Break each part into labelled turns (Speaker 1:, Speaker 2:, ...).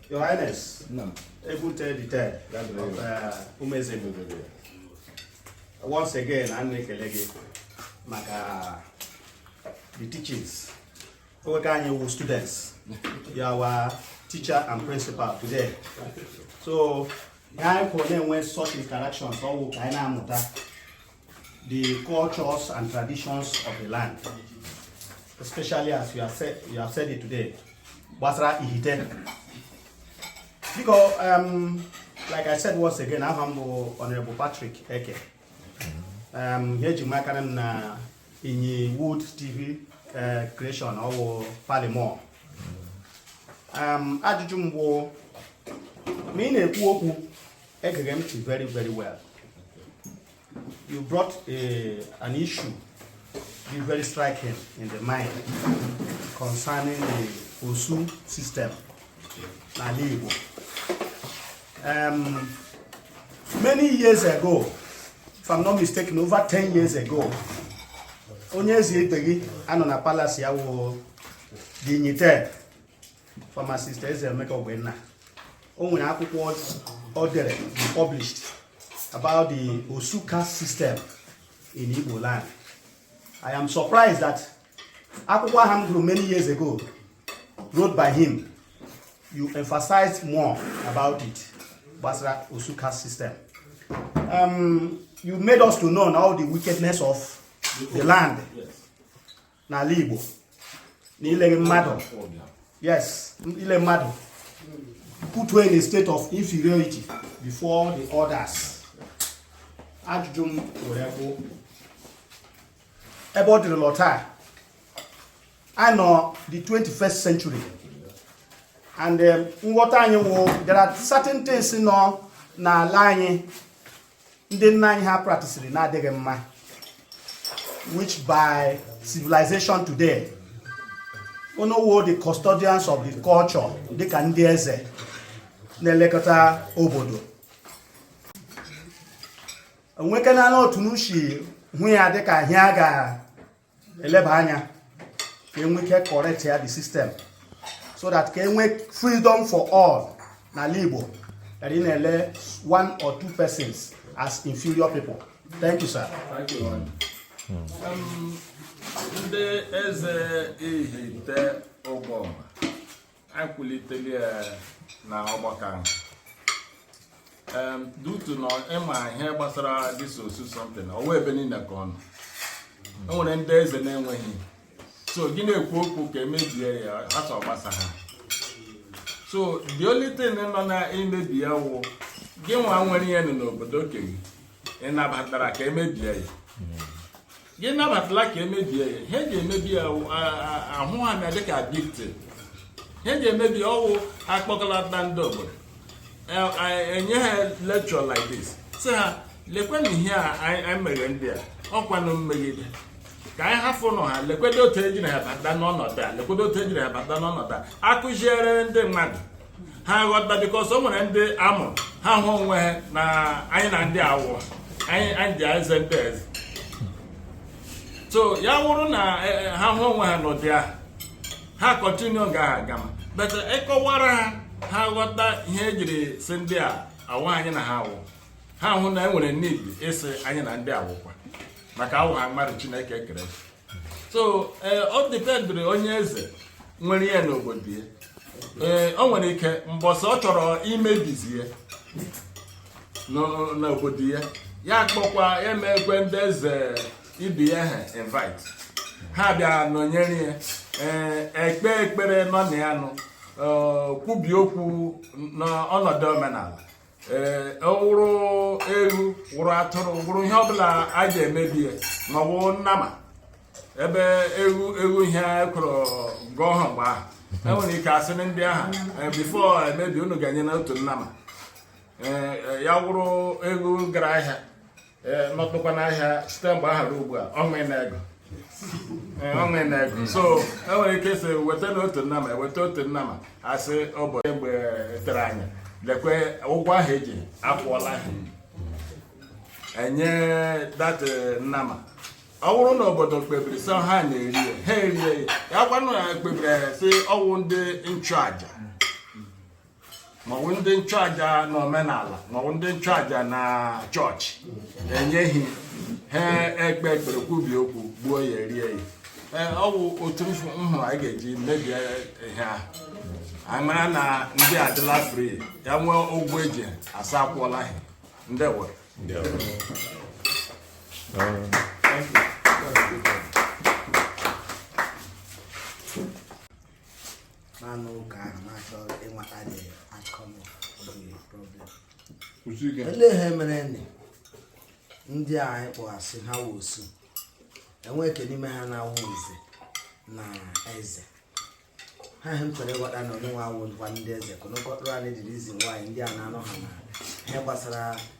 Speaker 1: Your Highness, no. April 3rd, the 3rd of uh, Umeze Mugudu. Once again, anyị na-ekele gị maka the teachings. Ọwụ ka anyị wụ students. You are our teacher and principal today. So, anyị kwụrụ na-enwe such interactions ọwụ ka anyị na-amụta the cultures and traditions of the land especially as you have said, you have said it today gbasara Ihite biko um, like i said once again aha m bụ honorable Patrick Eke um, ihe e ji mara m na inyi wood tv uh, creation ọwụ palimor um, ajụjụ m bụ ma ị na-ekwu okwu Egere m ntị very very well. You brought a, an issue bụ very striking in the mind concerning the Osu system n'ala Igbo. Um, many years ago, if I'm not mistaken, over 10 years ago, onye eze ibe gị a nọ na palace ya wụ dignitaire pharmacist Eze Emeka Ogbonna o nwere akwụkwọ o dere published about the Osu caste system in Igbo land I am surprised that akwụkwọ ahụ m gụrụ many years ago wrote by him you emphasized more about it gbasara Osu caste system um, you made us to know all the wickedness of the land n'ala Igbo na ile mmadụ yes ile mmadụ put you in a state of inferiority before the others ajụjụ m nwere bụ ebe ọ dịrịla taa anyị nọ the 21st century and um, nghọta anyị wụ there are certain things nọ n'ala anyị ndị nna anyị ha practiceri na-adịghị mma which by civilization today unu wụ the custodians of the culture dịka ndị eze na-elekọta obodo e nwekwana otu unu shi hụ ya dịka ihe a ga eleba anya ka e nwee ike correct ya the system so that ka e nwee freedom for all n'ala Igbo than ị na-ele one or two persons as inferior people thank you sir thank you hmm. um, ndị eze Ihite Uboma anyị kwuliteli ya na ọgbakọ ahụ Em, due to na ịma ihe gbasara this osu something ọwa ebe niile ka ọ nọ e nwere ndị eze na-enweghị so gị na-ekwu okwu ka emebie ya asị ọ gbasaha so the only thing nọ na imebi ya wụ gị nwa nwere ya nọ n'obodo okay ị nabatara ka emebie ya gị nabatala ka emebie ya ihe eji emebi ya awụha dịka big thing ihe eji emebi ọ wụ akpọkọlata ndị obodo enye ha lecture like this sị ha lekwenụ ihe a anyị mere ndị a ọkwanụ mmegide ka anyị hafụnụ ha lekwedo otu ejiri ha bata n'ọnọdụ a akụziere ndị mmadụ ha ghọta because o nwere ndị amụ ha hụ onwe ha na anyị na ndị awụ anyị anyị dị eze ndị eze so ya wụrụ na eh, eh, ha hụ onwe ha n'ụdị ahụ ha continue ga ha gama but ịkọwara ha ha ghọta ihe ejiri sị ndị a awụha anyị na ha awụ ha hụ na e nwere need ịsị anyị na ndị awụkwa maka awụ ha mmadụ Chineke kere so eh, ọ dependiri onye eze nwere ya n'obodo ya ee eh, o nwere ike mbọsị ọ chọrọ imebizi ya n'obodo ya ya kpọkwa emekwe ndị eze ibe ya ha invite ha bịa nọnyere ya ee eh, ekpe ekpere nọ na ya nụ kwubie okwu n'ọnọdụ omenala ee wụrụ ewu wụrụ atụrụ wụrụ ihe ọbụla a ji emebi ya ma ọ bụ nnama ebe ewu wụ ihe a kwụrụ ụgwọ ha mgbe ahụ enwere ike asị na ndị ahụ eh, before emebi unu ga-enye na otu nnama Eh, eh, ya wụrụ ewu gara ahịa ee nọtụkwa n'ahịa site mgbe aha ruo ugbu a ọnwa ị na-ego Ee, ọnwa ị na-ego so e nwere ike sị weta na otu nnama eweta otu nnama asị ụbọchị mgbe tere anya lekwe ụgwọ ahụ eji akwụọla ha enye that nnama ọ bụrụ na obodo kpebiri sị ha na-eri ya ha erie ya ya gwanụ ya kpebiri ya sị ọwụ ndị nchụaja maọbụ ndị nchụaja na omenala maọbụ ndị nchụaja na church enye ha ya ekpe ekpere kwubie okwu gbuo ya erie ya ee ọ bụ otu m hụrụ anyị ga-eji mebie ihe ahụ anyị mara na ndị a adịla free ya nwee ụgwọ eji asị akwụọla ha ndị were n'anụ ụka ahụ na-achọ ịmata dị akọnụ problem olee ihe mere nị ndị a anyị kpọghasị ha wụ osu enwe nke n'ime ha na-awụ nze na eze ha ihe m chọrọ ịghọta na unu nwa wụ ndị eze ka unu kọtụrụ anyị the reason why ndị a na-anọha n'ihe gbasara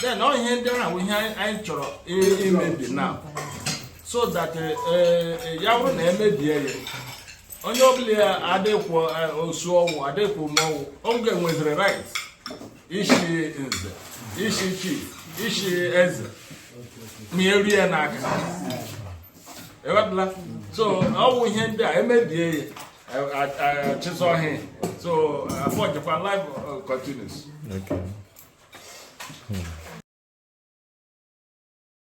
Speaker 1: then ọ ihe ndị ahụ wụ ihe anyị chọrọ imebi na so that eh, eh, ya bụrụ na e mebie ya onye ọbụla ya adịkwụ eh, osu ọ wụ adịkwụ ma ọ wụ ọ ga-enweziri right ishi nze ishi chief ishi eze ma erie n'aka ewepụla so ọ bụ ihe ndị a e mebie ya chịzọ ọhịa so afọ jikwa life uh, continues Okay. Hmm.